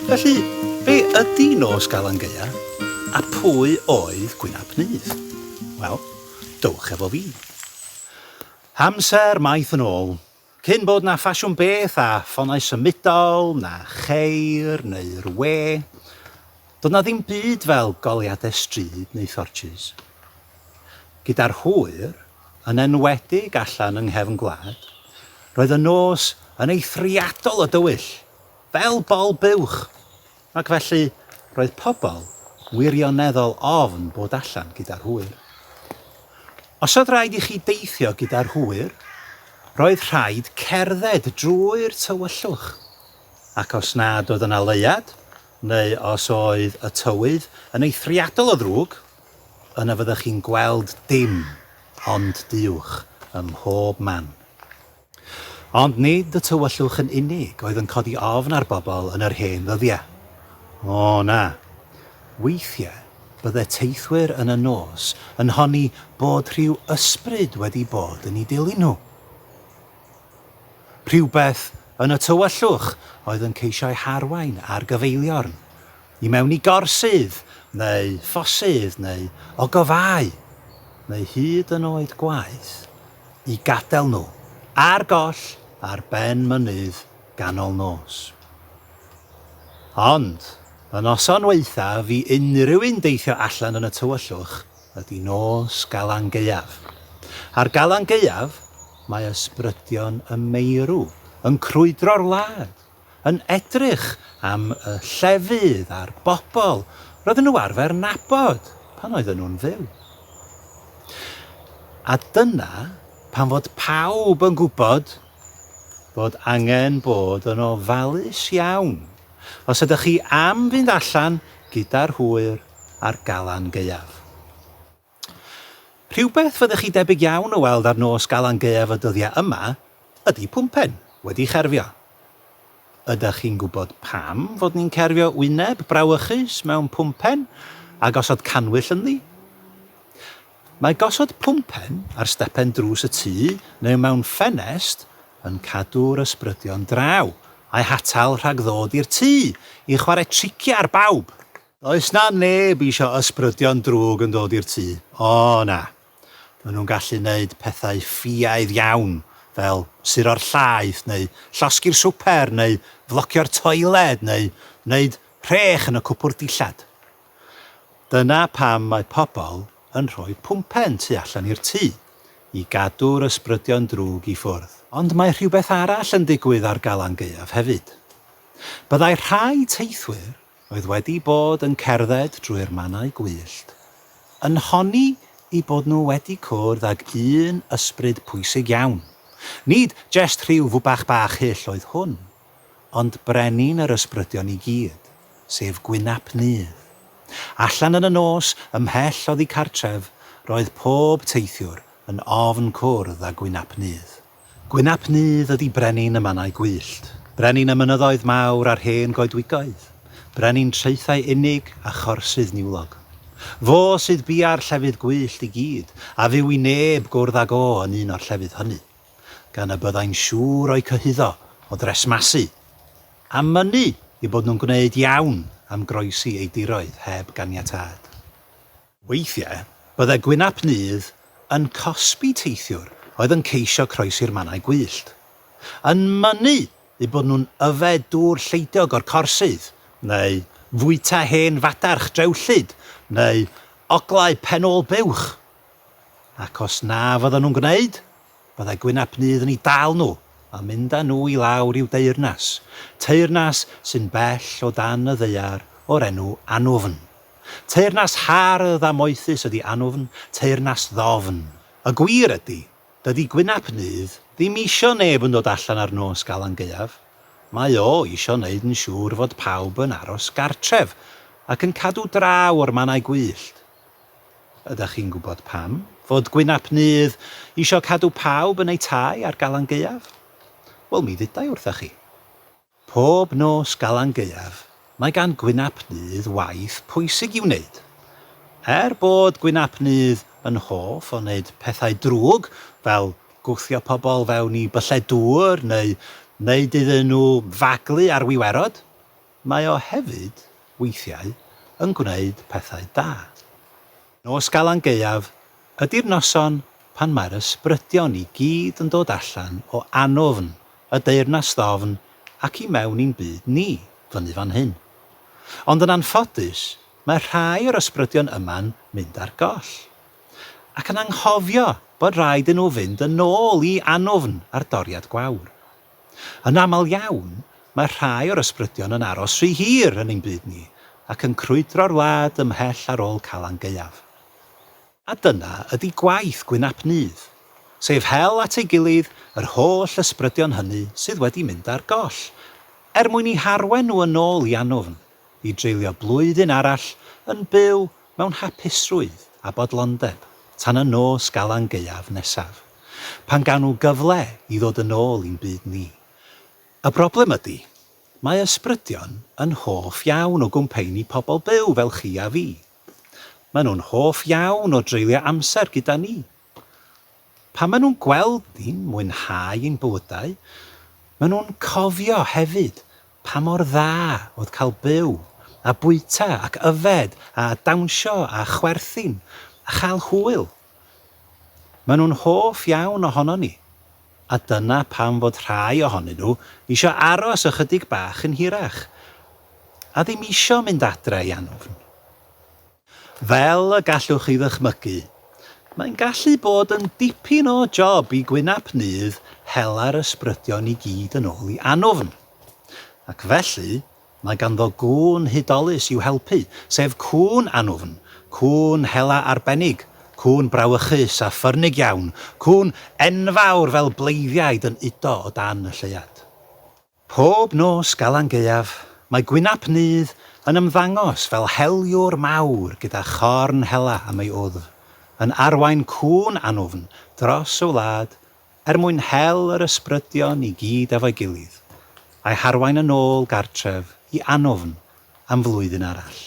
Felly, be ydy nos Galan Gaea a pwy oedd Gwynap Nydd? Wel, dowch efo fi. Amser maith yn ôl, Cyn bod 'na ffasiwn beth a ffonau symudol, na cheir neu'r we, doedd 'na ddim byd fel goleuadau stryd neu thortshys. Gyda'r hwyr, yn enwedig allan yng nghefn gwlad, roedd y nos yn eithriadol o dywyll, fel bol buwch! Ac felly, roedd pobl wirioneddol ofn bod allan gyda'r hwyr. Os oedd rhaid i chi deithio gyda'r hwyr, roedd rhaid cerdded drwy'r tywyllwch, ac os nad oedd yna leuad, neu os oedd y tywydd yn eithriadol o ddrwg, yna fyddech chi'n gweld dim ond duwch ym mhob man. Ond nid y tywyllwch yn unig oedd yn codi ofn ar bobl yn yr hen ddyddiau. O, na. Weithiau, bydde teithwyr yn y nos yn honni bod rhyw ysbryd wedi bod yn eu dilyn nhw. Rhywbeth yn y tywyllwch oedd yn ceisio eu harwain ar gyfeiliorn, i mewn i gorsydd, neu ffosydd, neu ogofâu, neu hyd yn oed gwaith, i gadael nhw ar goll ar ben mynydd ganol nos. Ond, y noson waethaf i unrhyw un deithio allan yn y tywyllwch ydy nos Galan Gaeaf. Ar Galan Gaeaf, mae ysbrydion y meirw yn crwydro'r wlad yn edrych am y llefydd a'r bobl roedden nhw arfer nabod pan oedden nhw'n fyw. A dyna pan fod pawb yn gwybod bod angen bod yn ofalus iawn os ydych chi am fynd allan gyda'r hwyr a'r galan gaeaf. Rhywbeth fyddech chi debyg iawn o weld ar nos Galan Gaeaf y dyddiau yma ydy pwmpen wedi cherfio. Ydych chi'n gwybod pam fod ni'n cerfio wyneb brawychus mewn pwmpen a gosod cannwyll ynddi? Mae gosod pwmpen ar stepen drws y tŷ neu mewn ffenest yn cadw'r ysbrydion draw a'u hatal rhag ddod i'r tŷ i chwarae triciau ar bawb! Does 'na neb isio ysbrydion drwg yn dod i'r tŷ, o na. Maen nhw'n gallu 'neud pethau ffiaidd iawn, fel suro'r llaeth neu llosgi'r swper neu flocio'r toiled neu 'neud rhech yn y cwpwrdd dillad. Dyna pam mae pobl yn rhoi pwmpen tu allan i'r tŷ, i gadw'r ysbrydion drwg i ffwrdd. Ond mae rhywbeth arall yn digwydd ar Galan Gaeaf hefyd. Byddai rhai teithwyr oedd wedi bod yn cerdded drwy'r mannau gwyllt, yn honni eu bod nhw wedi cwrdd ag un ysbryd pwysig iawn. Nid jest rhyw fwbach bach hyll oedd hwn, ond brenin yr ysbrydion i gyd, sef gwynap Nudd. Allan yn y nos, ymhell oddi cartref, roedd pob teithiwr yn ofn cwrdd â gwynap Nudd. Gwyn ap Nudd ydi brenin y mannau gwyllt, brenin y mynyddoedd mawr a'r hen goedwigoedd, brenin traethau unig a chorsydd niwlog. Fo sydd bia'r llefydd gwyllt i gyd, a fyw i neb gwrdd ag o yn un o'r llefydd hynny, gan y byddai'n siŵr o'u cyhuddo o dresmasu, a mynnu eu bod nhw'n gwneud iawn am groesi ei diroedd heb ganiatâd. Weithiau, byddai gwynap nydd yn cosbi teithiwr oedd yn ceisio croesi'r mannau gwyllt. Yn mynnu eu bod nhw'n yfed dŵr lleidiog o'r corsydd, neu fwyta hen fadarch drewllyd, neu oglau pen-ôl buwch. Ac os na fyddan nhw'n gwneud, Byddai Gwyn ap Nudd yn eu dal nhw a mynd â nhw i lawr i'w deyrnas, teyrnas sy'n bell o dan y ddaear o'r enw Anwfn. Teyrnas hardd a moethus ydi Anwfn, teyrnas ddofn. Y gwir ydi, dydi Gwyn ap Nudd ddim isio neb yn dod allan ar nos Galan Gaeaf, mae o isio neud yn siŵr fod pawb yn aros gartref ac yn cadw draw o'r mannau gwyllt. Ydach chi'n gwybod pam? Fod Gwynap Nudd isio cadw pawb yn eu tai ar Galan Gaeaf? Wel, mi ddudai wrtha chi. Pob nos Galan Gaeaf, mae gan Gwynap Nudd waith pwysig i'w wneud. Er bod Gwynap Nudd yn hoff o wneud pethau drwg, fel gwthio pobl fewn i byllau dŵr neu wneud iddyn nhw faglu ar wiwerod, Mae o hefyd, weithiau, yn gwneud pethau da. Nos Galan Gaeaf ydi'r noson pan mae'r ysbrydion i gyd yn dod allan o anwfn y Deyrnas Ddofn ac i mewn i'n byd ni, fyny fan hyn. Ond yn anffodus, mae rhai o'r ysbrydion yma'n mynd ar goll. Ac yn anghofio bod rhaid i nhw fynd yn ôl i anwfn a'r doriad gwawr. Yn aml iawn, mae rhai o'r ysbrydion yn aros rhy hir yn ein byd ni ac yn crwydro'r wlad ymhell ar ôl Calan Gaeaf. A dyna ydi gwaith Gwyn ap Nudd, sef hel at ei gilydd yr holl ysbrydion hynny sydd wedi mynd ar goll, er mwyn 'u harwain nhw yn ôl i Anwfn, i dreulio blwyddyn arall yn byw mewn hapusrwydd a bodlondeb tan y nos Galan Gaeaf nesaf, pan gawn nhw gyfle i ddod yn ôl i'n byd ni. Y broblem ydy, mae ysbrydion yn hoff iawn o gwmpeini pobl byw fel chi a fi. Maen nhw'n hoff iawn o dreulio amser gyda ni. Pan maen nhw'n gweld ni'n mwynhau ein bywydau, maen nhw'n cofio hefyd pa mor dda oedd cael byw a bwyta ac yfed a dawnsio a chwerthin a chael hwyl. Maen nhw'n hoff iawn ohonon ni, a dyna pam fod rhai ohonyn nhw isio aros ychydig bach yn hirach a ddim isio mynd adre i anwfn. Fel y gallwch chi ddychmygu, mae'n gallu bod yn dipyn o job i gwynap nydd hela'r ysbrydion i gyd yn ôl i Anwfn. Ac felly, mae ganddo gŵn hudolus i'w helpu, sef Cŵn Anwfn, cŵn hela arbennig, cŵn brawychus a ffyrnig iawn, cŵn enfawr fel bleiddiaid yn udo o dan y lleuad. Pob nos Galan Gaeaf, mae Gwynap Nudd yn ymddangos fel heliwr mawr gyda chorn hela am ei wddf, yn arwain cŵn anwfn dros y wlad er mwyn hel yr ysbrydion i gyd efo'i gilydd, a'i harwain yn ôl gartref i anwfn am flwyddyn arall.